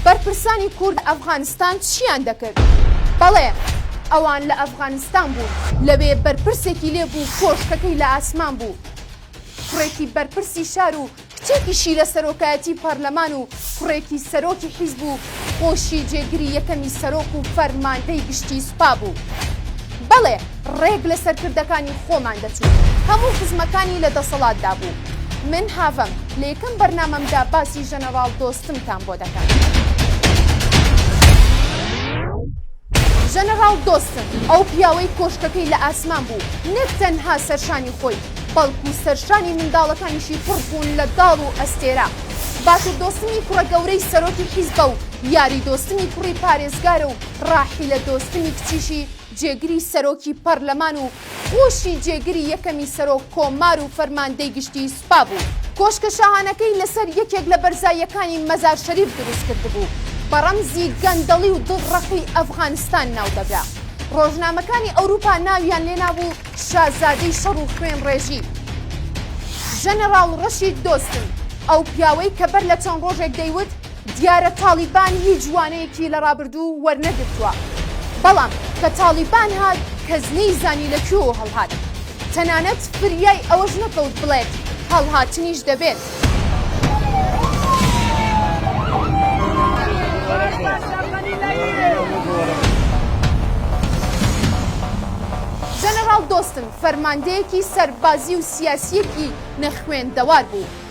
بەرپرسانی کورد لە ئەفغانستان چیان دەکرد؟ بەڵێ، ئەوان لە ئەفغانستان بوون، لەوێ بەرپرسێکی لێ بوو کۆشکەکەی لە ئاسمان بوو. کوڕێکی بەرپرسی شار و کچێکیشی لە سەرۆکایەتی پەرلەمان و کوڕێکی سەرۆکی حیزب و خۆشی جێگری یەکەمی سەرۆک و فەرماندەی گشتی سوپا بوو. بەڵێ، ڕێک لە سەرکردەکانی خۆمان دەچوو هەموو خزمەکانی لە دەسەڵاتدا بوو من هاڤم لە یەکەم بەرنامەمدا باسی ژەنەڕاڵ دۆستمتان بۆ دەکەم ژەنەڕاڵ دۆستم ئەو پیاوەی کۆشکەکەی لە ئاسمان بوو نەک تەنها سەرشانی خۆی بەڵکو سەرشانی منداڵەکانیشی پڕ بوون لە داڵ و ئەستێرە باتر دۆستمی کوڕە گەورەی سەرۆکی حیزبە و یاری دۆستمی کوڕی پارێزگارە و ڕاحیلە دۆستمی کچیشی جێگری سەرۆکی پەرلەمان و پۆشی جێگری یەکەمی سەرۆک کۆمار و فەرماندەی گشتیی سوپا بوو. کۆشکە شاهانەکەی لەسەر یەکێک لە بەرزاییەکانی مەزار شەریف دروست کردبوو. بە ڕەمزی گەندەڵی و دڵڕەقی ئەفغانستان ناو دەبرا. ڕۆژنامەکانی ئەوروپا ناویان لێ نابوو شازادەی شەڕ و خوێنڕێژی. ژەنەڕاڵ ڕەشید دۆستم، ئەو پیاوەی کە بەر لە چەند ڕۆژێک دەیوت، دیارە تاڵیبان هیچ وانەیەکی لە ڕابردوو وەرنەگرتووە، بەڵام کە تاڵیبان هات کەس نەیزانی لە کوێوە هەڵهات، تەنانەت فریای ئەوەش نەکەوت بڵێت هەڵهاتنیش دەبێت. جەنەڕاڵ دۆستن فەرماندەیەکی سەربازی و سیاسییەکی نەخوێندەوار بوو،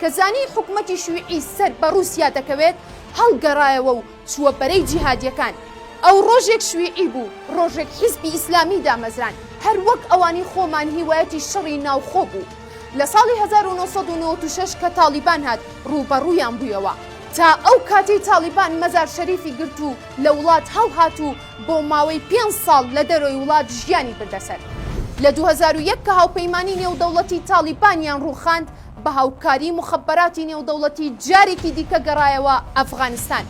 کە زانی حکومەتی شویعی سەر بە ڕووسیا دەکەوێت، هەڵگەڕایەوە و چووە بەرەی جیهادییەکان. ئەو ڕۆژێک شویعی بوو، ڕۆژێک حیزبی ئیسلامی دامەزراند، هەر وەک ئەوانی خۆمان هیوایەتی شەڕی ناوخۆ بوو. لە ساڵی هەزار و نۆ سەد و نەوەد و شەش کە تاڵیبان هات، ڕووبەڕوویان بوویەوە. تا ئەو کاتەی تاڵیبان مەزار شەریفی گرت و لە وڵات هەڵهات و بۆ ماوەی پێنج ساڵ لە دەرەوەی وڵات ژیانی بردە سەر. لە دوو هەزار و یەک کە هاوپەیمانیی نێودەوڵەتی تاڵیبانیان ڕووخاند، بە هاوکاری موخەبەراتی نێودەوڵەتی جارێکی دیکە گەڕایەوە ئەفغانستان.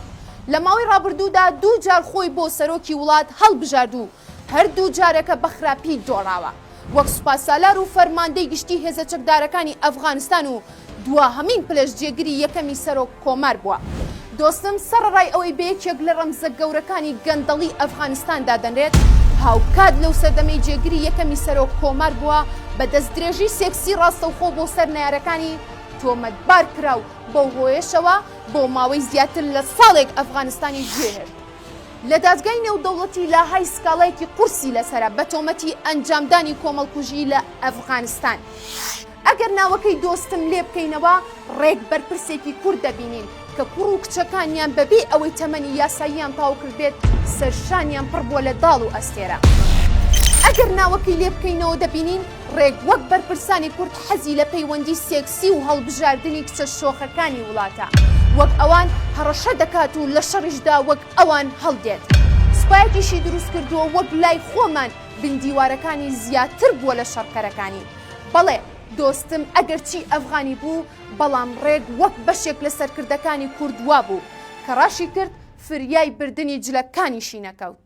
لە ماوەی ڕابردوودا دوو جار خۆی بۆ سەرۆکی وڵات هەڵبژارد و هەردوو جارەکە بە خراپی دۆڕاوە وەک سوپاسالار و فەرماندەی گشتی هێزە چەکدارەکانی ئەفغانستان و دواهەمین پلەش جێگری یەکەمی سەرۆک کۆمار بووە. دۆستم سەڕەڕای ئەوەی بە یەکێک لە ڕەمزە گەورەکانی گەندەڵی ئەفغانستان دادەنرێت، هاوکات لەو سەردەمەی جێگری یەکەمی سەرۆک کۆمار بووە بە دەستدرێژی سێکسی ڕاستەوخۆ بۆ سەر نەیارەکانی تۆمەتبار کرا و بەو هۆیەشەوە بۆ ماوەی زیاتر لە ساڵێک ئەفغانستانی گوێهرد لە دادگای نێودەوڵەتی لاهای سکاڵایەکی قورسی لەسەرە بە تۆمەتی ئەنجامدانی کۆمەڵکوژی لە ئەفغانستان. ئەگەر ناوەکەی دۆستم لێ بکەینەوە، ڕێک بەرپرسێکی کورد دەبینین کە کوڕ و کچەکانیان بەبێ ئەوەی تەمەنی یاساییان تاو کردبێت، سەرشانیان پڕ بووە لە داڵ و ئەستێرە. ئەگەر ناوەکەی لێ بکەینەوە دەبینین ڕێک وەک بەرپرسانی کورد حەزی لە پەیوەندی سێکسی و هەڵبژاردنی کچە شۆخەکانی وڵاتە، وەک ئەوان هەڕەشە دەکات و لە شەڕیشدا وەک ئەوان هەڵدێت. سوپایەکیشی دروست کردووە وەک لای خۆمان بندیوارەکانی زیاتر بووە لە شەڕکەرەکانی. بەڵێ دۆستم ئەگەرچی ئەفغانی بوو بەڵام ڕێک وەک بەشێک لە سەرکردەکانی کورد وابوو کە ڕاشی کرد فریای بردنی جلەکانیشی نەکەوت.